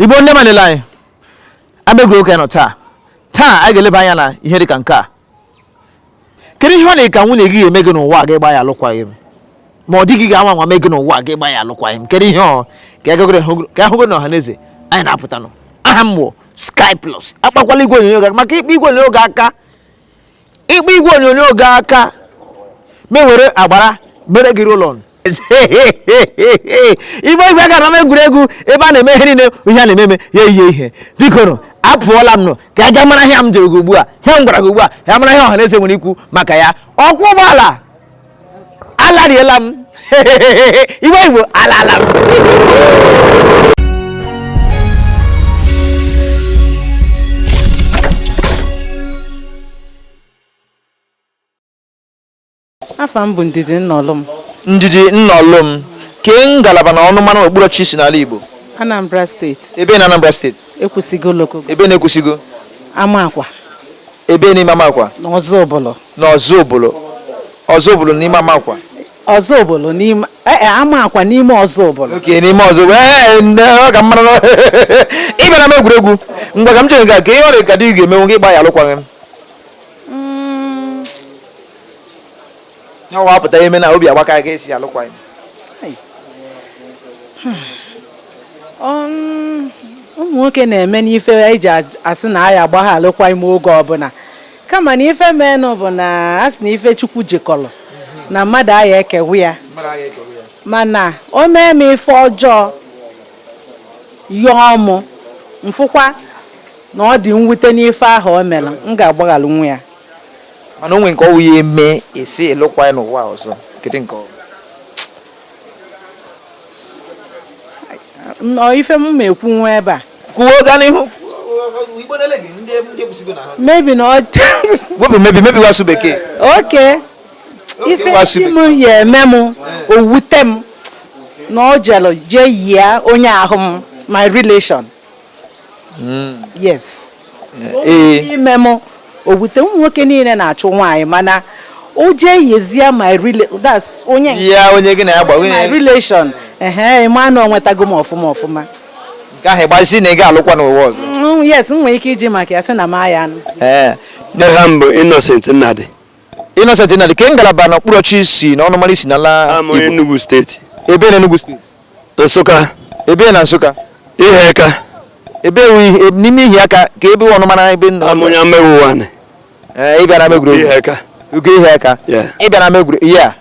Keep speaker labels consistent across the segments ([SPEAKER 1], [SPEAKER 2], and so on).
[SPEAKER 1] igbo ndị ọma na-ele anyị ama egwuregwu ka anyị nọ taa taa anyị ga-eleba anya na ihe dị ka nke a kedu ihe ọ dị ka nwunye gị ga-eme gị n'ụwa gị gba ya alụkwaghịm ma ọ di gị ga-anwa anwa mee gị n'ụwa gị gba ya alụkwaghịm kedu ihe ọ ka e ahụgo na ọha na eze anyị na-apụta nọ aha m bụ Sky Plus akpakwala igwe onyonyo gị maka ị kpaa igwe onyonyo gị aka ị kpaa igwe onyonyo gị aka m ewere agbara mere gị roll-on igbe igwe ga n'ama egwuregwu ebe a na-eme ihe niile ihe a na-eme eme ya ihe ihe biko nụ apụọla m nọ ka a gaa mara ihe m jụrụ gị ugbu a ihe m gwara gị ugbu a ya mara ihe ọha na eze nwere ikwu maka ya ọkwọ ụgbọala alariela m igbe igbo alala m
[SPEAKER 2] Afa m bụ Ndidi Nnọlụm.
[SPEAKER 1] Ndidi Nnọlụm, kee ngalaba na ọnụmara na okpuru ọchịchị i si n'ala Igbo? Anambra
[SPEAKER 2] steeti, Ebe na Anambra steeti?
[SPEAKER 1] Ekwusigo Local
[SPEAKER 2] Ebe na
[SPEAKER 1] Ekwusigo? Amakwa
[SPEAKER 2] Ebe
[SPEAKER 1] n'ime Amakwa? na Ọzụbụlụ. Na
[SPEAKER 2] Ọzụbụlụ.
[SPEAKER 1] Ọzụbụlụ n'ime Amakwa. Ọzụbụlụ
[SPEAKER 2] n'ime eh, eh, Amakwa n'ime Ọzụbụlụ. Okay n'ime Ọzụbụlụ.
[SPEAKER 1] Ee, nne, ọ ka mara na ị bịara ama egwuregwu. Ngwa ka m jụọ gị nke a, kee ihe ọ dị ka di gị ga-emenwu gị gba ya alụkwaghịm. ọ wapụta eme na obi agbaka gị ị sị alụkwaghịm um,
[SPEAKER 2] ụmụ nwoke na-eme n'ife e ji asị na anyị agba ha alụkwaghịm oge ọbụla kama na ife menụ bụ na a sị na ife chukwu jikọrọ na mmadụ aya ekewa ya mana o mee m ife ọjọọ yọọ mụ m fụkwa na ọ dị mwute n'ife ahụ o mere m ga-agbaghalụnwu ya mana o nwee
[SPEAKER 1] nke ọ wụ ya eme ị sị alụkwa ya n'ụwa ọzọ kedu nke
[SPEAKER 2] ọ nọ ife m ma ekwu nwa ebe a kwuo gaa n'ihu
[SPEAKER 1] maybe
[SPEAKER 2] na wepụ
[SPEAKER 1] maybe maybe wụ asụsụ bekee
[SPEAKER 2] okay ife si m ya eme m o wute m na ọ jere jee yie onye ahụ m my relation hmm. yes eh. ime m owute ụmụ nwoke niile na-achụ nwaanyị mana o jee yezie my that's onye ya onye gị na ya gba my
[SPEAKER 1] relation
[SPEAKER 2] ehe ị ma na ọ wutego m ọfụma ọfụma nke
[SPEAKER 1] ahụ ịgbazi na ị ga-alụkwa n'ụwa ọzọ mm, yes m nwere ike
[SPEAKER 2] iji maka ya sị na m aya anụzi eh. aha m
[SPEAKER 3] bụ Innocent Nnadi Innocent
[SPEAKER 1] Nnadi kee ngalaba na okpuru ọchịchị i si na ọnụmara i si n'ala Igbo Enugu steeti
[SPEAKER 3] ebe na Enugu steeti Nsụka. Ebe na
[SPEAKER 1] Nsụka? Iheaka.
[SPEAKER 3] Ebee
[SPEAKER 1] n'ime Iheaka kee ebe ọnụ mara ebe nna. Amụnya mmewu
[SPEAKER 3] nwanne. Ee, ịbịa
[SPEAKER 1] n'ama egwuregwu. Iheaka. Ugo
[SPEAKER 3] Iheaka.
[SPEAKER 1] Ịbịa n'ama egwuregwu.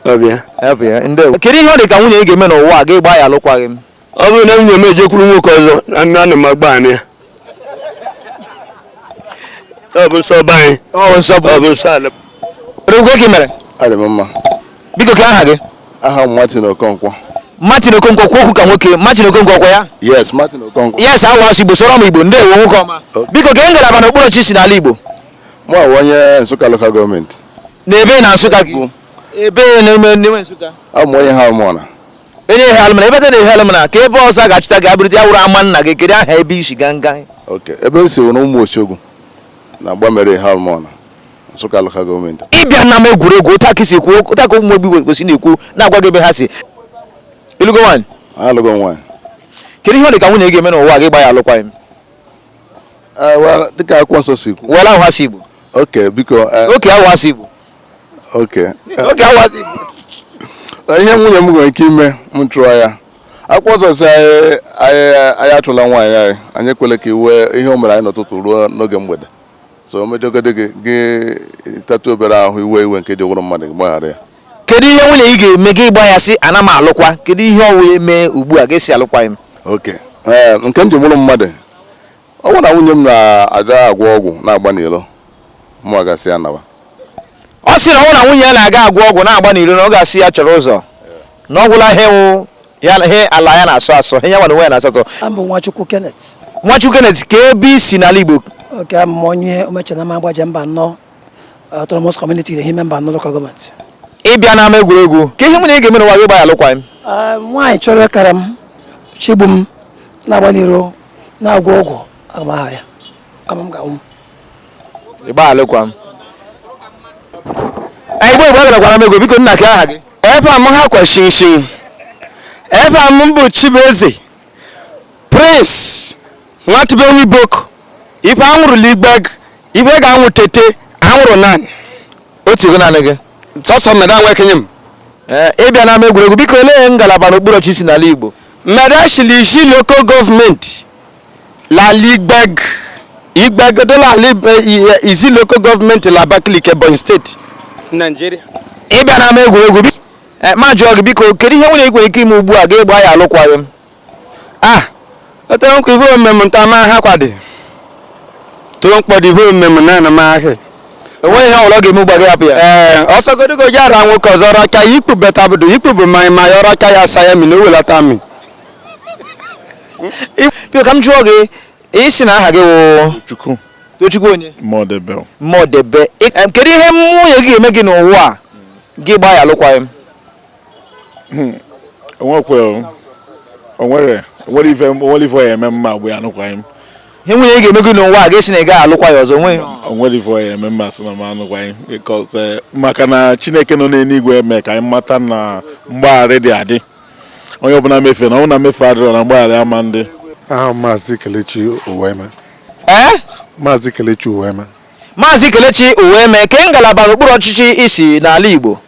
[SPEAKER 1] Ọbịa. Ọbịa, ndewo. Kedu ihe ọ dị ka nwunye ị ga-eme n'ụwa a gị agba ya alụkwaghị m? Ọ bụrụ na nwunye
[SPEAKER 3] m ejekwuru nwoke ọzọ, anụ anụ m agba ya. ọ bụ nsọ be anyị ọ bụ nsọ bụ ọ bụ nsọ ala Odogwu kee i
[SPEAKER 1] mere adị m mma
[SPEAKER 4] biko kee aha gị
[SPEAKER 1] aha m Martin
[SPEAKER 4] Okonkwo Martin Okonkwo
[SPEAKER 1] kwuo okwu ka nwoke Martin Okonkwo ọkwa ya yes Martin
[SPEAKER 4] Okonkwo yes awa asụ Igbo sụọrọ
[SPEAKER 1] m Igbo ndewo nwoke ọma biko kee ngalaba na okpuru ọchịchị i si n'ala Igbo mụ awụ
[SPEAKER 4] onye Nsụka lokal gọọmenti na ebe na Nsụka
[SPEAKER 1] gị ebee n'ime Nsụka abụ m onye Eha
[SPEAKER 4] Alụmọna onye Eha
[SPEAKER 1] Alụmọna ebee na Eha Alụmọna kee ebe ọzọ a ga-achọta gị abụrịta ya wụrụ ama nna gị kedu aha ebe i si ganga oke ebe m
[SPEAKER 4] si wụrụ Ụmụ Ochogwu na Agbamere Eha Alụmọna Nsụka lokal gọọmenti ịbịa na ama egwuregwu
[SPEAKER 1] otu a ka e si kwuo otu a ka ụmụ Igbo kwesị na-ekwu na-agwa gị ebe ha si ị lụgo nwaanyị alụgo m
[SPEAKER 4] nwaanyị kedu ihe ọ
[SPEAKER 1] dị ka nwunye gị ga-eme n'ụwa gị gba ya
[SPEAKER 4] alụkwaghịm dịka akwụkwọ nsọ si kwu wela ahụ ha si igbo
[SPEAKER 1] oke biko
[SPEAKER 4] oke ahụ ha si igbo ihe nwunye m nwere ike ime m chụọ ya akwụkwọ nsọ sị anyị achụla nwaanyị anyị anyị ekwele ka iwe ihe o mere anyị n'ụtụtụ ruo n'oge mgbede so o mejọgode gị gị tatụ obere ahụhụ i wee iwe nke e ji wụrụ mmadụ gị gbaghara ya kedu ihe nwunye
[SPEAKER 1] ị ga-eme gị gba ya sị ana m alụkwa kedu ihe ọ wụ ya mee ugbu a gị asị alụkwaghịm oke
[SPEAKER 4] nke m ji wụrụ mmadụ ọ bụrụ na nwunye m na-aga agwọ ọgwụ na-agba n'iro mụ aga-asị ya nawa ọ
[SPEAKER 1] sị na ọ bụrụ na nwunye ya na-aga agwọ ọgwụ na-agba n'iro na ọ ga-asị ya chọrọ ụzọ na ọ gwụla ihe wụ ya ihe ala ya na-asọ asọ ihe ya nwa onwe ya na-asọ asọ Abụ m Nwachukwu Kenneth.
[SPEAKER 5] Nwachukwu Kenneth
[SPEAKER 1] kee ebe i si n'ala Igbo Oke abụ m
[SPEAKER 5] onye omechana m Agbaja Mbano autonomous community na Ehime Mbano local gọọmenti. ịbịa n'ama
[SPEAKER 1] egwuregwu kee ihe nwunye ị ga-eme n'ụwa gị gba ya alụkwaghịm Nwaanyị chọrọ
[SPEAKER 5] ịkara m chigbu m na-agba n'iro na-agwọ ọgwụ aga m aha ya kama m ga-anwụ
[SPEAKER 1] ịgba alụkwaghịm Igbo Igbo agarakwara m ego biko nna kee aha gị efa m ha kwa
[SPEAKER 3] shinshin efa m bụ Chibueze Prince nwa ndibe Nwiboko ife a nwụrụ la Igbeagu ife ga-anwụ tete a nwụrụ nan otu
[SPEAKER 1] ego naanị gị sọsọ mbedua nwa
[SPEAKER 3] ekenye m ee ịbịa
[SPEAKER 1] n'ama egwuregwu biko olee ngalaba n'okpuru ọchịchị i si n'ala Igbo mbedua shi l'Izzi
[SPEAKER 3] lokal gọọmenti la l'Igbeagu Igbeagu dụ l'Izzi lokal gọọmenti la Abakaliki Ebonyi steeti Naijiria ịbịa n'ama
[SPEAKER 1] egwuregwu m ajụọ gị biko kedu ihe nwunye ị nwere ike ime ugbu a gị agba ya alụkwaghịm ah
[SPEAKER 3] otere nkwa ife omem nta ma ha kwadi tụrụ mkpọdụ ife omem na na ma ahị enweghị ihe ọbụla ọ
[SPEAKER 1] ga-eme ugbu a gị hapụ ya ee ọsọgodogo ji ara
[SPEAKER 3] nwoke ọzọ raka ya ikpu betabudu ikpu bụ mmanya ma ya ọraka ya asa ya mi na owelata
[SPEAKER 1] mi biko ka m jụọ gị ị sị na aha gị wụ Chukwu Tochukwu
[SPEAKER 4] onye
[SPEAKER 1] Modebe Modebe
[SPEAKER 4] Em, kedu ihe
[SPEAKER 1] nwunye gị ga-eme gị n'ụwa a gị gbaa ya alụkwaghịm
[SPEAKER 4] onwere onwere ife onwere ife ya eme m m agba ya anụkwaghị m ihe nwunye
[SPEAKER 1] ị ga-eme gị n'ụwa a ga-esi na ị gaghị alụkwa ya ọzọ nwe onwere ife ya
[SPEAKER 4] eme m m asị na m anụkwaghị eh, maka na chineke nọ n'eluigwe eme ka anyị mata na mgbaghara dị adị onye ọbụla mefe na ọ bụ na mmefe adịrọ na mgbaghara ama dị aha
[SPEAKER 6] maazị kelechi uweme ee eh? maazị kelechi uweme maazị kelechi
[SPEAKER 1] uweme ke ngalaba n'okpuru ọchịchị i si n'ala igbo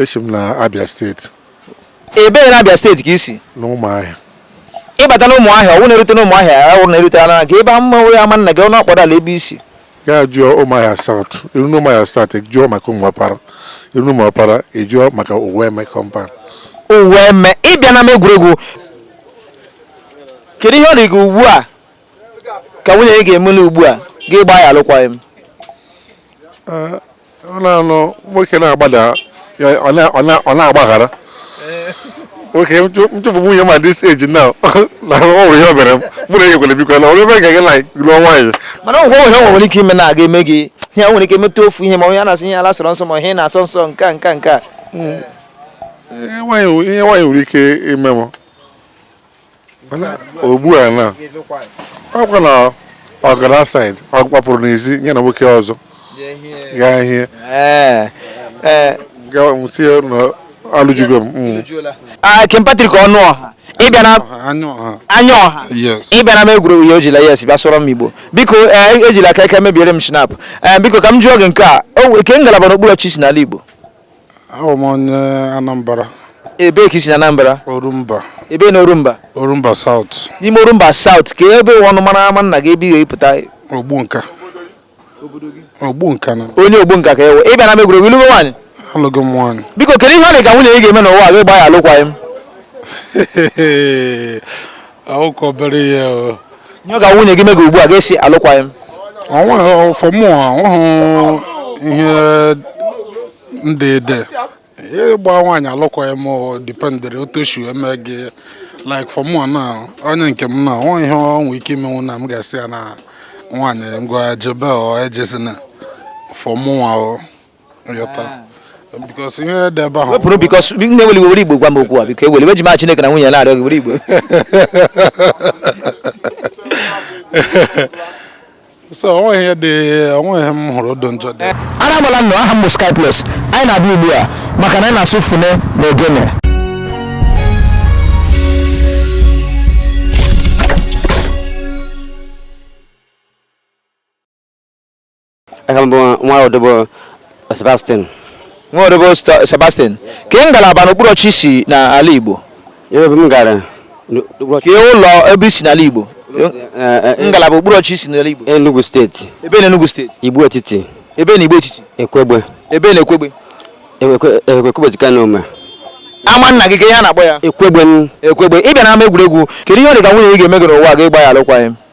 [SPEAKER 1] esi m
[SPEAKER 6] na abia steeti ebee
[SPEAKER 1] na abia steeti ka i si na
[SPEAKER 6] ụmụahịa
[SPEAKER 1] ịbata na ụmụahịa ọwụ na-erute na ụmụahịa ọwụ na-erute na gị ebe ama onwe ama nna gị ọ na-akpọrọ ala ebe i si ya jụọ
[SPEAKER 6] ụmụahịa south i ru na ụmụahịa south jụọ maka ụmụọpara i ru na ụmụọpara ị jụọ maka uweme compound
[SPEAKER 1] uweme ị bịa n'ama egwuregwu kedu ihe ọ dị gị ugbu a ka nwunye gị ga-emeli ugbu a gị gbaa ya alụkwaghị m
[SPEAKER 6] ọ na-anụ nwoke na-agbada ya, ọ na- ọ na- ọ na-agbaghara nwoke m chụpụ nwunye ma this age now na ọ bụ ihe o mere m mụ na enyekwere biko na ọrụ ebe ga gị na lụọ nwaanyị mana ọ nwere ihe
[SPEAKER 1] nwere ike ime na-aga eme gị ihe nwere ike metụ ofu ihe ma onye a na-asị ihe ala sọrọ nsọ ma ihe na-asọ nsọ nke a nke a nke a
[SPEAKER 6] ihe nwaanyị ihe nwaanyị nwere ike ime m ugbu a na ọkwa na ọ gara outside ọ gbapụrụ n'ezi ya na nwoke ọzọ gaa hie sị ya na alụjugo m mm. ah,
[SPEAKER 1] Kim Patrick Ọnụọha ịbịa na anya ọha ị bịa n'ama egwuregwu ya o jila yes bịa sụọrọ m igbo biko eh, ejila aka aka mebiere m shinap eh, biko ka m jụọ gị nke a ke ngalaba n'okpuru ọchịchị i si n'ala igbo Awụ
[SPEAKER 7] m onye Anambra. Ebee
[SPEAKER 1] ka i si na Anambra? Orumba.
[SPEAKER 7] Ebee na
[SPEAKER 1] Orumba? Orumba South.
[SPEAKER 7] N'ime Orumba South
[SPEAKER 1] kee ebe ọnụ mara ama nna gị ebe ị ga-epụta? Ogbunka.
[SPEAKER 7] Ogbunka na. Onye Ogbunka ka ị
[SPEAKER 1] wụ. Ị bịa n'ama egwuregwu ị lụgo nwaanyị? Alụgo m
[SPEAKER 7] nwaanyị. Biko kedu ihe ọ dị ka nwunye
[SPEAKER 1] ị ga-eme n'ụwa gị gbaa ya alụkwaghịm?
[SPEAKER 7] ọkọbere ya nye ọ ga
[SPEAKER 1] nwunye gị mega ugbu a ga-esi alụkwaghị m
[SPEAKER 7] ọnweghị for mụ ọhụụ ihe ndị ede ịgba nwaanyị alụkwaghị m dipendịrị otu o si eme gị like for mụ na onye nke m na o nwe ihe ọ nwee ike imenwu na m ga-asị ya na nwaanyị ngwa jebe ọ ejezina for mụnwa o because ihe dị ebe ahụ wepụrụ because nne
[SPEAKER 1] weli were igbo gwa m okwu a biko ewela iwe eji m chineke na nwunye na-arịọ gị were
[SPEAKER 7] igbo so onweghị ihe dị onweghị ihe m hụrụ odo njọ dị ara agbala nnọọ aha
[SPEAKER 1] m bụ sky plus anyị na-abịa ugbu a maka na anyị na-asụ fune na ogene
[SPEAKER 8] aha m bụ nwa odobo Sebastian nwa
[SPEAKER 1] odobo Sta- Sebastian kee ngalaba n'okpuru ọchịchị i si n'ala Igbo ebe ebe m gara
[SPEAKER 8] kee
[SPEAKER 1] ụlọ ebe i si n'ala Igbo ngalaba okpuru ọchịchị i si n'ala Igbo Enugu steeti
[SPEAKER 8] ebee na Enugu
[SPEAKER 1] steeti Igbo
[SPEAKER 8] etiti ebee na Igbo
[SPEAKER 1] etiti Ekwegbe
[SPEAKER 8] ebee
[SPEAKER 1] na Ekwegbe
[SPEAKER 8] Ekwe- Ekwegbe dịka na Ome ama nna gị
[SPEAKER 1] kee ihe a na-akpọ ya Ekwegbe m Ekwegbe
[SPEAKER 8] ị bịa n'ama
[SPEAKER 1] egwuregwu kedu ihe ọ dị ka nwunye gị ga-eme gị n'ụwa gị gbaa ya alụkwaghịm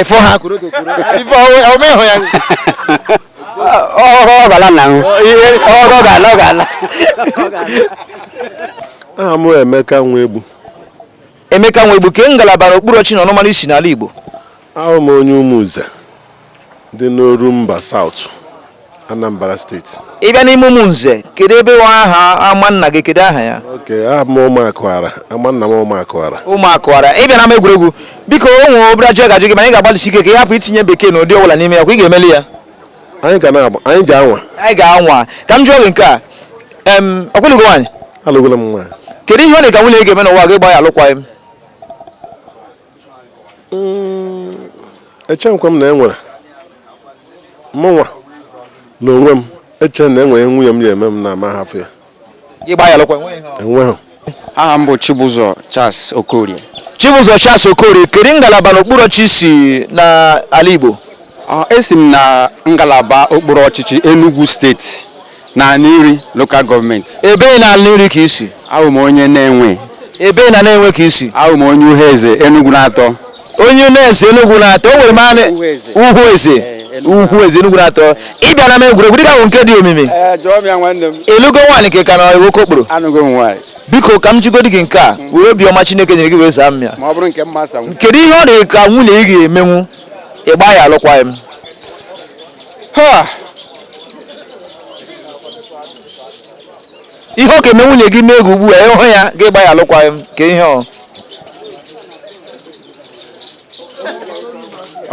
[SPEAKER 8] efo
[SPEAKER 1] ha kuro kokoro ifo ọmọ ẹhọ ya.
[SPEAKER 8] ọhọ ọgala na ahụ ọhọ ọgala ọgala.
[SPEAKER 6] aha m emeka nwegbu.
[SPEAKER 1] emeka nwegbu kee ngalaba na okpuru ọchịchị na ọnụmara i si n'ala igbo. ahụ
[SPEAKER 6] m onye ụmụnze dị n'orumba south Anambra steeti ị bịa n'ime
[SPEAKER 1] ụmụnze kedu ebe wa aha ama nna gị kedu aha ya oke aha m ụmụakụara
[SPEAKER 6] ama nna m ụmụakụara ụmụakụara ị bịa
[SPEAKER 1] n'ama egwuregwu biko o nwere obere ajụjụ m ga-ajụ gị mana ị ga-agbalịsi ike ka ị hapụ itinye bekee na ụdị ọbụla n'ime ya ọ kwa ị ga-emeli ya anyị ga
[SPEAKER 6] na-agba anyị ga-anwa anyị
[SPEAKER 1] ga-anwa ka m jụọ gị nke a em ọ kwa ị lụgo nwaanyị alụgwala m nwaanyị
[SPEAKER 6] kedu ihe ọ dị ka nwunye gị
[SPEAKER 1] ga-eme n'ụwa gị gba ya alụkwaghị m
[SPEAKER 6] hmm, echeghịkwa m na e nwere mụnwa na onwe m eche na enwere nwunye m ya-eme m na m ahafụ ya enweghị aha m
[SPEAKER 3] bụ Chibụzọ Charles Okorie Chibụzọ Charles
[SPEAKER 1] Okorie kedu ngalaba n'okpuru ọchịchị i si n'ala Igbo Ah, esi m
[SPEAKER 3] na ngalaba okpuru ọchịchị Enugu steeti na Aninri lokal gọọmenti ebee na Aninri
[SPEAKER 1] ka i si ahụ m onye Nenwe
[SPEAKER 3] ebee na Nenwe
[SPEAKER 1] ka i si ahụ m onye Uhueze
[SPEAKER 3] Enugu na-atọ onye na-eze
[SPEAKER 1] enugwu na-atọ o nwere m anị Uhueze. Uhueze Eh, Enugu Uhueze enugwu na-atọ ị bịa n'ama egwuregwu dịka bụ nke dị omimi jụọ m ya nwanne
[SPEAKER 3] m ị lụgo nwaanyị ka ị ka
[SPEAKER 1] nọ n'okokporo anụgo m nwaanyị
[SPEAKER 3] biko ka m jụgodi
[SPEAKER 1] gị nke a were obiọma chineke nyere gị wee zaa m ya ma ọ bụrụ nke m ma asaa m
[SPEAKER 3] kedu ihe ọ dị ka nwunye
[SPEAKER 1] gị ga-emenwu ị gbaa ya alụkwaghị m Ha! ihe ọ ga-eme nwunye gị mee gị ugbu a ịhụ ya gị gba ya alụkwaghị m kee ihe ọ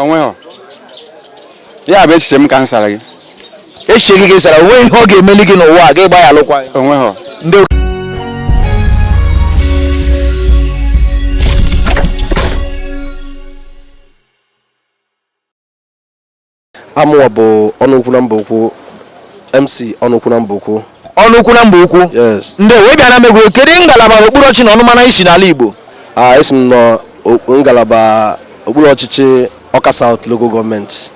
[SPEAKER 3] onweghị ya bụ echiche m ka m sara gị echiche
[SPEAKER 1] gị ka ị sara onweghị ihe ọ ga-emeli gị n'ụwa a gị gba ya alụkwaghị m onweghị ndị
[SPEAKER 9] amụwa bụ ọnụukwu na mbaukwu mc ọnụukwu na mbaukwu ọnụukwu na mbaukwu
[SPEAKER 1] yes ndeewo ịbịa
[SPEAKER 9] n'ama
[SPEAKER 1] egwuregwu kedu ngalaba okpuru ọchịchị na ọnụmara i si n'ala igbo a esi
[SPEAKER 9] m na o- ngalaba okpuru ọchịchị ọka south local gọọmenti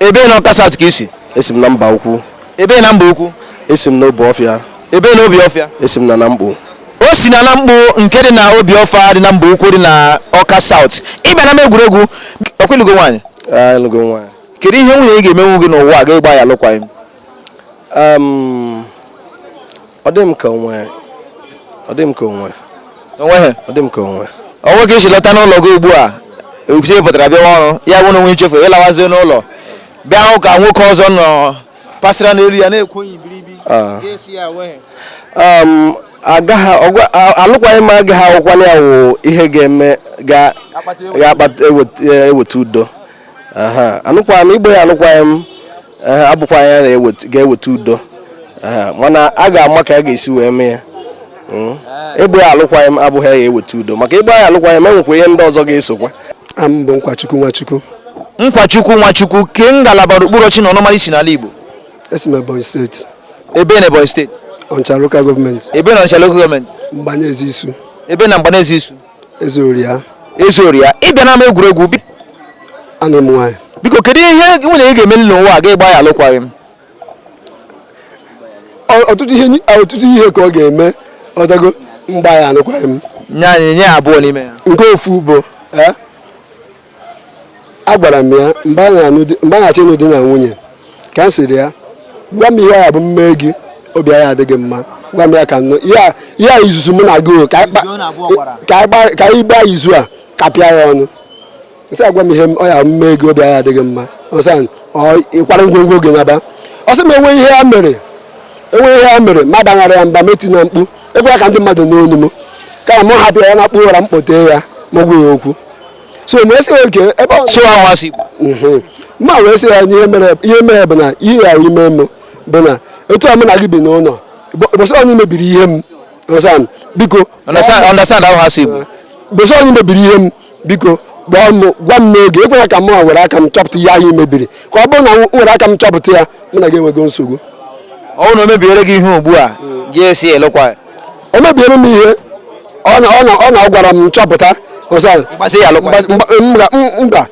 [SPEAKER 9] ebee na ọka
[SPEAKER 1] south ka i si esi m na mbaukwu
[SPEAKER 9] ebee na mbaukwu
[SPEAKER 1] esi m n'obuọfịa
[SPEAKER 9] Ebee na
[SPEAKER 1] Obuọfịa? Esi m na Namkpu.
[SPEAKER 9] o si na Namkpu
[SPEAKER 1] nke dị na Obuọfịa dị na Mbaukwu dị na Ọka South ịbịa n'ama egwuregwu ọ kwa ị lụgo nwaanyị Ah, alụgo m nwaanyị.
[SPEAKER 9] kedu ihe nwunye ị
[SPEAKER 1] ga-emenwu gị n'ụwa a gị agbaa ya alụkwaghịm Um,
[SPEAKER 9] ọ dị m ka onwe ọ dị m ka
[SPEAKER 1] onwe o nweghị ọ dị m ka
[SPEAKER 9] onwe o nwee ka i si lọta
[SPEAKER 1] n'ụlọ gị ugbu a ebute pụtara bịawa ọrụ ya bụ na o nwe i chefu ị lawazie n'ụlọ bịa hụ ka nwoke ọzọ nọ pasịra n'elu ya na-ekwu onye ibiribi ah. ga-esi
[SPEAKER 9] ya wee um, alụkwaghị m agaghị awụkwala ya wụ ihe ga-eme ga-eweta udo anụkwaghị m ịgba ya alụkwaghị m eh, abụkwaghị ya ga-eweta udo mana a ga-ama ka a ga-esi wee mee ya hmm? ịgba alụkwaghị m abụghị ya ga-eweta udo maka ịgba ya alụkwaghị m e nwekwa ihe ndị ọzọ ga-esokwa m bụ
[SPEAKER 10] nkwachukwu nwachukwu nkwachukwu
[SPEAKER 1] nwachukwu ke ngalaba okpuru ọchịchị na ọnụmara i si n'ala igbo esi m ebonyi
[SPEAKER 10] steeti ebee na ebonyi
[SPEAKER 1] steeti ọnịcha lokal
[SPEAKER 10] gọọmenti ebee na ọnịcha lokal
[SPEAKER 1] gọọmenti mgbaneze
[SPEAKER 10] isu ebee na mgbaneze
[SPEAKER 1] isu eze
[SPEAKER 10] oria eze oria
[SPEAKER 1] ịbịa n'ama egwuregwu anụrụ
[SPEAKER 10] m nwaanyị biko kedu ihe
[SPEAKER 1] nwunye ị ga-emeli n'ụwa a gị agbaa ya alụkwaghị m
[SPEAKER 10] ọtụtụ ihe ọtụtụ ihe ka ọ ga-eme ọdago m gbaa ya anụkwaghị m nye anyị ihe abụọ
[SPEAKER 1] n'ime ya nke ofu bụ
[SPEAKER 10] eh, agwara m ya mgbe anyị achọ ịnụ di na nwunye ka m sịrị ya gwa m ihe a bụ m mee gị obi ya adịghị mma gwa m ya ka nụ ya izuzu mụ na gị ka anyị gbaa izu a kapịa ya ọnụ m sị ya gwa m ihe ọ ya m mee gị obi ya adịghị mma ọsa ịkwara ngwongwo gị naba ọ sị m enwe ihe ya mere enwe ihe ya mere m abaghara ya mba m etina mkpu ekwela ka ndị mmadụ nụ onu m ka m hapụ ya nakpuo ụra m kpọtee ya m agwa ya okwu so m asị okay ebe ọ sụwa amasị igbo Mhm. m wee sị ya na ihe mere ihe mere bụ na ihe ị ga-eme m bụ na etu a mụ na gị bi n'ụlọ ụbọchị onye mebiri ihe m Understand? Biko. Understand? Understand how ha si bụ. Ụbọsị onye mebiri ihe m biko gwa m gwa m n'oge ekwela ka mụ were aka m chọpụta ihe i mebiri ka ọ bụrụ na m were aka m chọpụta ya mụ na gị enwego nsogbu ọ bụrụ na
[SPEAKER 1] o mebiere gị ihe ugbu a gị asị alụkwa o mebiere
[SPEAKER 10] m ihe ọ na ọ na ọ na ọ gwara m chọpụta ọsa m gbaa ya alụkwa. mba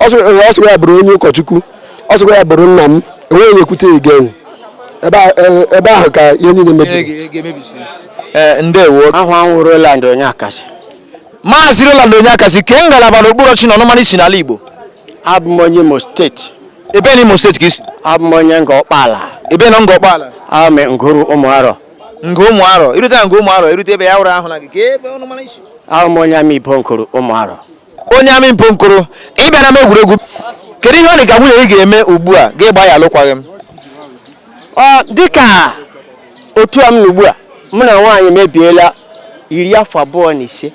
[SPEAKER 10] ọ sịkwa ya bụrụ onye ụkọchukwu ọ sịkwa ya bụrụ nna m enweghị onye ekwute egen ebe ahụ ka ihe niile mebiri e,
[SPEAKER 1] ndewo aha m
[SPEAKER 3] wụ Roland Onyekasị maazị
[SPEAKER 1] Roland Onyekasị kee ngalaba n'okpuru ọchịchị na ọnụmara i si n'ala Igbo abụ m
[SPEAKER 3] onye Imo steeti ebe na Imo
[SPEAKER 1] steeti ka i si abụ m onye Ngor
[SPEAKER 3] Ọkpala ebe na Ngor
[SPEAKER 1] Ọkpala abụ m Nguru
[SPEAKER 3] Ụmụarọ Nguru Ụmụarọ
[SPEAKER 1] i rute Nguru Ụmụarọ i rute ebe ya wụrụ ahụ na gị ka ebe ọnụmara i si awụ m onye Amaibo
[SPEAKER 3] Nguru Ụmụarọ onye Amaibo
[SPEAKER 1] Nguru ị bịara n'ama egwuregwu kedu ihe ọ dị ka nwunye ị ga-eme ugbu a gị gbaa ya alụkwaghịm dịka
[SPEAKER 3] otu a m nọ ugbu a mụ na nwaanyị mebiela iri afọ abụọ na ise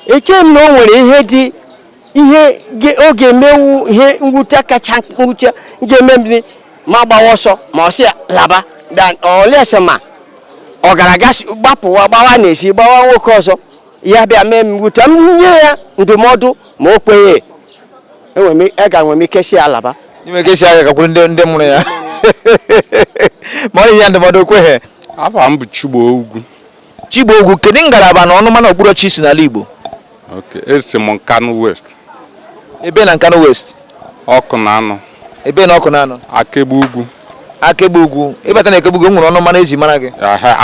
[SPEAKER 3] eche m na o nwere ihe dị ihe ge- ọ ga-eme wụ ihe mwute kacha mwute ga-eme m agbawa ọsọ ma ọ sị ya laba dan olese ma ọ gara gbapụwa gbawa n'ezi gbawa nwoke ọzọ ya bịa mee m mwute m nye ya ndụmọdụ ma o kweghị ege enwere m ike sị ya laba enwe ike sị ya ga gakwuru
[SPEAKER 1] ndị ndị mụrụ ya ma nye ya ndụmọdụ o kweghị afa m bụ
[SPEAKER 6] Chigbo
[SPEAKER 1] Ugwu Chigbo Ugwu kedu ngalaba na ọnụ ama na okpuru ọchịchị i si n'ala Igbo
[SPEAKER 6] esi m Nkanu West ebe na
[SPEAKER 1] Nkanu West Ọkụnanọ
[SPEAKER 6] ebe na Ọkụnanọ
[SPEAKER 1] Akegbe Ugwu
[SPEAKER 6] Akegbe
[SPEAKER 1] Ugwu ị bata na Akegbe Ugwu o nwere ọnụmara e ji mara gị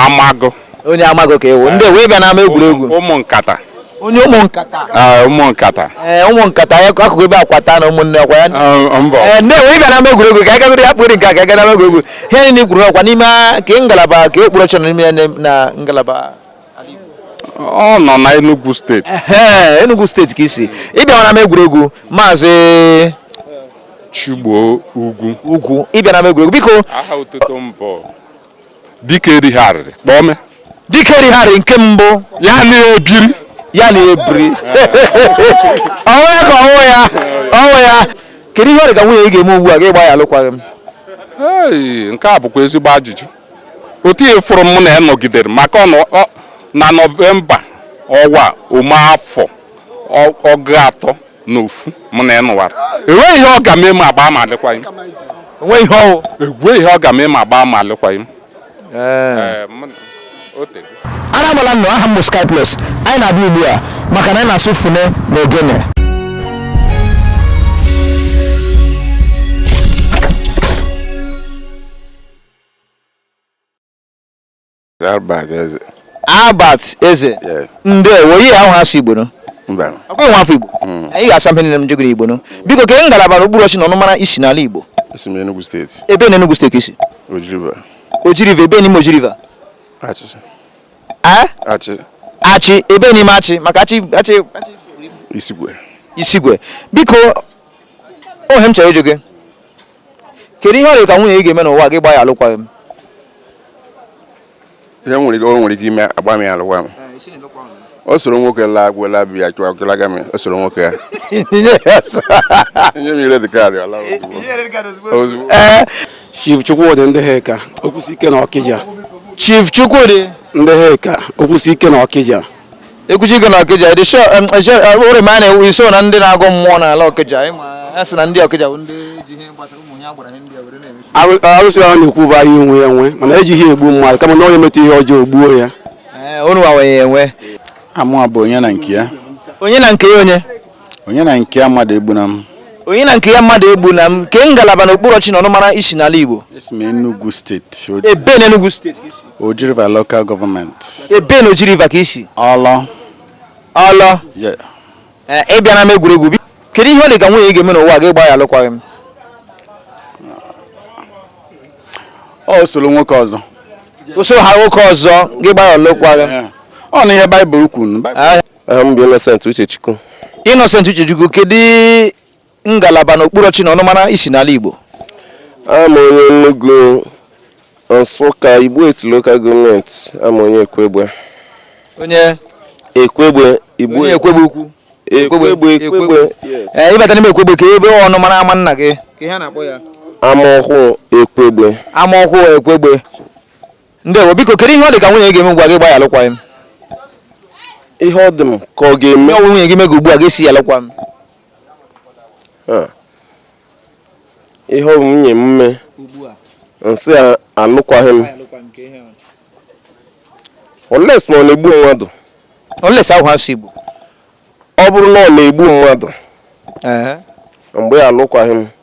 [SPEAKER 6] Amagu onye Amagu
[SPEAKER 1] ka ị wụ ndewo ị bịa n'ama egwuregwu ụmụ nkata
[SPEAKER 6] onye ụmụ
[SPEAKER 1] nkata ụmụ nkata
[SPEAKER 6] ee ụmụ nkata
[SPEAKER 1] ya akụkụ ebe akwata na ụmụnne ọkwa ya ee ndewo ị bịa n'ama egwuregwu ka agagoro ya kpụrụ nke a ka aga n'ama egwuregwu ihe niile kwuru ọkwa n'ime kee ngalaba kee okpuru ọchịchị na n'ime ya na ngalaba
[SPEAKER 6] ọ nọ na Enugu steeti Ehe, Enugu
[SPEAKER 1] steeti ka i si ị bịara n'ama egwuregwu
[SPEAKER 6] maazị Chigbo Ugwu Ugwu ị bịara n'ama egwuregwu biko
[SPEAKER 1] aha otuto m bụ
[SPEAKER 6] dike erigharịrị kpọọ m dike
[SPEAKER 1] righarị nke mbụ ya
[SPEAKER 6] na-ebiri ya na ebiri ọ
[SPEAKER 1] wụ ya ka ọ wụ ya ọ wụ ya kedu ihe ọ dị ka nwunye ị ga-eme ugbu a gị gbaa ya alụkwaghịm Hey,
[SPEAKER 6] nke a bụkwa ezigbo ajụjụ otu ihe fụrụ m na ya nọgidere maka na nọvemba ọwa ọ mee afọ ọgụ atọ na ofu mụ na ya nụwara enweghị ihe ọ ga-eme m agbaa ma alụkwaghịm enweghị ihe ọ ga-eme m agbaa ma
[SPEAKER 1] alụkwaghịm ara agbala nnụ aha m bụ Sky Plus anyị na-abịa ugbu a maka na anyị na-asụ fune na ogene Albert Eze. Albert Eze. Yes. Ndewo, yeah awụ asụ Igbo no. Mba. Ị bụghị nwa afọ Igbo. Hmm. Anyị ga-asa mpe niile m jegoro Igbo no. Biko kee ngalaba na okpuru ọchị na ọnụmara i si n'ala Igbo. Esi m Enugu steeti.
[SPEAKER 4] Ebe na Enugu steeti i
[SPEAKER 1] si? Oji River. Oji River, ebe n'ime Oji River? Achị. Eh? Achị. Achị, ebe n'ime Achị, maka Achị, Achị, Achị. Isikwe. Isikwe. Biko, o nwe ihe m chọrọ ịjụ gị. kedu ihe ọ dị ka nwunye ị ga-eme n'ụwa gị gbaa ya alụkwaghị m
[SPEAKER 4] ihe nwere ike o nwere ike ime agbaa m ya alụkwaghị m o soro nwoke laa agwụ laa bi ya chụwa chụlaga m o soro nwoke enye m ya red card ọ laa ozugbo
[SPEAKER 10] ee Chief Chukwudi Ndịheka Okwusiike na Ọkịja Chief Chukwudi
[SPEAKER 1] Ndịheka
[SPEAKER 10] Okwusiike na Ọkịja ekwuchi gị
[SPEAKER 1] na Ọkịja ị dị sure ụrị ma a na-ewu i so na ndị na-agọ mmụọ n'ala Ọkịja a sị na ndị Ọkịja bụ ndị ji ihe gbasara ụmụ agbara ihe ndị were na-emechi arụsị ahụ na-ekwu bụ
[SPEAKER 10] ahịa onwe ya nwe mana ejighị egbu mmadụ kama na onye meta ihe ọjọọ o gbuo ya unu
[SPEAKER 1] wawenye enwe aha mụ bụ
[SPEAKER 11] Onyenankeya Onyenankeya
[SPEAKER 1] onye Onyenankeya
[SPEAKER 11] Mmadụegbunam Onyenankeya
[SPEAKER 1] Mmadụegbunam kee ngalaba na okpuru ọchị na ọnụmara i si n'ala Igbo esi m Enugu
[SPEAKER 11] steeti ebe na Enugu steeti
[SPEAKER 1] Oji River
[SPEAKER 11] Local Government. Ebe na Oji
[SPEAKER 1] River ka i si?
[SPEAKER 11] Ọlọ.
[SPEAKER 1] Ọlọ? Yeah. Eh, ị bịara m egwuregwu. Biko kedu ihe ọ dị ka nwunye ị ga-eme n'ụwa gị gbaa ya alụkwaghị m?
[SPEAKER 11] O soro nwoke ọzọ. O soro
[SPEAKER 1] ha nwoke ọzọ gị gbaa ya alụkwaghị m. Ọ na ihe
[SPEAKER 11] Baịbụl kwuru. Aha m bụ
[SPEAKER 9] Innocent Uchechukwu. Innocent
[SPEAKER 1] Uchechukwu kedu ngalaba na okpuru ọchị na ọnụmara i si n'ala Igbo
[SPEAKER 9] abụ m onye Enugu Nsụka Igbo Etiti lokal gọọmenti abụ m onye Ekwegbe onye
[SPEAKER 1] Ekwegbe
[SPEAKER 9] Igbo onye Ekwegbe ukwu
[SPEAKER 1] Ekwegbe
[SPEAKER 9] Ekwegbe yes.
[SPEAKER 1] ee ịbata n'ime Ekwegbe kee ebe ọnụmara ama nna gị kee ihe a na-akpọ ya Amaọhụụ
[SPEAKER 9] Ekwegbe Amaọhụụ
[SPEAKER 1] Ekwegbe ndewo biko kedu ihe ọ dị ka nwunye gị ga-eme ugbu a gị gbaa ya alụkwaghịm
[SPEAKER 9] ihe ọ dị m ka ọ ga-eme ihe ọ wụ nwunye gị mega ugbu a gị
[SPEAKER 1] sị ya alụkwaghịm
[SPEAKER 9] ihe ọ bụ nwunye m mee m sị alụkwaghị m unless na ọ na-egbu mmadụ unless
[SPEAKER 1] awụ asụ Igbo ọ bụrụ
[SPEAKER 9] na ọ na-egbu mmadụ m gbaa alụkwaghị m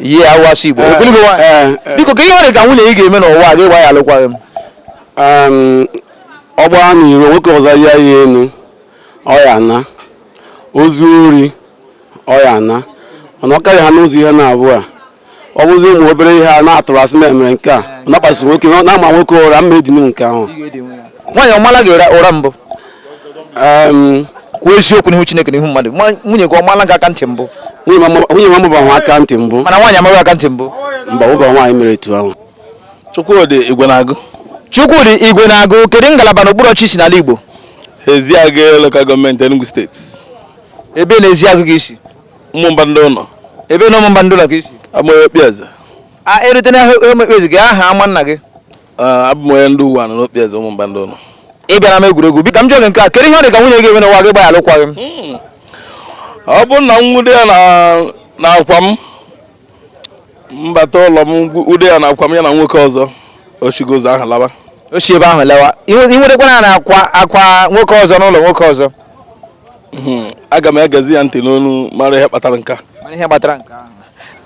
[SPEAKER 11] yeah
[SPEAKER 1] awụ asụ Igbo eh, ogologo nwaanyị eh, eh. biko kee ihe ọ dị ka nwunye ị ga-eme n'ụwa gị gbaa ya alụkwaghị m ọ
[SPEAKER 11] gbaa n'iro nwoke ọzọ rịa ya enu ọ ya-ana o zuo ori ọ ya-ana mana ọ karịa ha n'ụzọ ihe naabọ a ọ bụzi ụmụ obere ihe a na-atụrụ asị na e mere nke a ọ na-akpasị nwoke na-ama nwoke ụra m ma-edinụ nke ahụ nwaanyị ọ
[SPEAKER 1] maala gị ụra mbụ kwuo eziokwu n'ihu Chineke n'ihu mmadụ nwunye gị ọ maala gị aka ntị mbụ nwunye nwa m
[SPEAKER 11] bụ nwa aka ntị mbụ mana nwaanyị ama gị aka ntị mbụ
[SPEAKER 1] mba ọ bụ nwaanyị mere
[SPEAKER 11] etu ahụ Chukwudi
[SPEAKER 4] Igwenagụ Chukwudi
[SPEAKER 1] Igwenagụ kedu ngalaba na okpuru ọchịchị i si n'ala Igbo
[SPEAKER 4] Ezeagụ Local Government Enugu State ebee
[SPEAKER 1] na Ezeagụ ka i si Ụmụmba Ndịụnọ
[SPEAKER 4] ebee na Ụmụmba
[SPEAKER 1] Ndịụnọ ka i si a mụrụ m Okpieze
[SPEAKER 4] e rute
[SPEAKER 1] na Okpieze kee aha ama nna gị Ah, abụ m
[SPEAKER 4] onye ndị Uwanị n'Okpieze Ụmụmba Ndịụnọ ị bịara n'ama
[SPEAKER 1] egwuregwu bịa ka m jụọ gị nke a kedu ihe ọ dị ka nwunye gị eme n'ụwa gị gba ya alụkwaghị
[SPEAKER 4] m ọ bụrụ na m nwude ya na- na akwa m mbata ụlọ nwude ya na akwa m ya na nwoke ọzọ o shigo ụzọ ahụ laba o si ebe ahụ
[SPEAKER 1] lawa i nwudekwanụ ya na akwa akwa nwoke ọzọ n'ụlọ nwoke ọzọ Mhm.
[SPEAKER 4] aga m egezi ya ntị n'ọnụ mara ihe kpatara nke a. mara ihe kpatara nke ahụ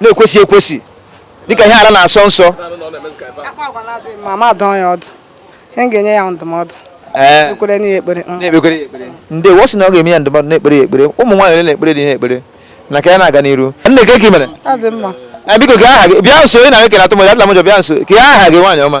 [SPEAKER 1] na-ekwesị ekwesị dịka ihe ala na-asọ
[SPEAKER 2] nsọ ga-enye ya ndụmọdụ Eh. kpeere ya ekpere mm. na-ekpere ya ekpere
[SPEAKER 1] ndewo ọ sị na ọ ga-enye ya ndụmọdụ na-ekpere ya ekpere ụmụ nwaanyị ole na-ekpere di ha ekpere ngwa ka anyị na-aga n'iru nne kee ka ị
[SPEAKER 2] mere eh, biko kee aha gị
[SPEAKER 1] bịa nso ị na-ekele atụ mmadụ atụla m ụjọ bịa nso kee aha gị nwaanyị ọma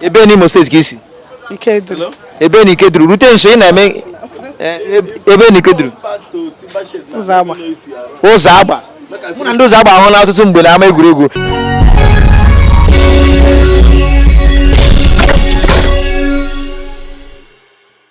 [SPEAKER 1] ebee n'Imo State ka i
[SPEAKER 2] si ebee na
[SPEAKER 1] Ikeduru rute nso ị na-eme eh, ebee na Ikeduru Ụzọagba mụ na ndị Ụzọagba ahụna
[SPEAKER 2] ọtụtụ mgbe
[SPEAKER 1] na ama egwuregwu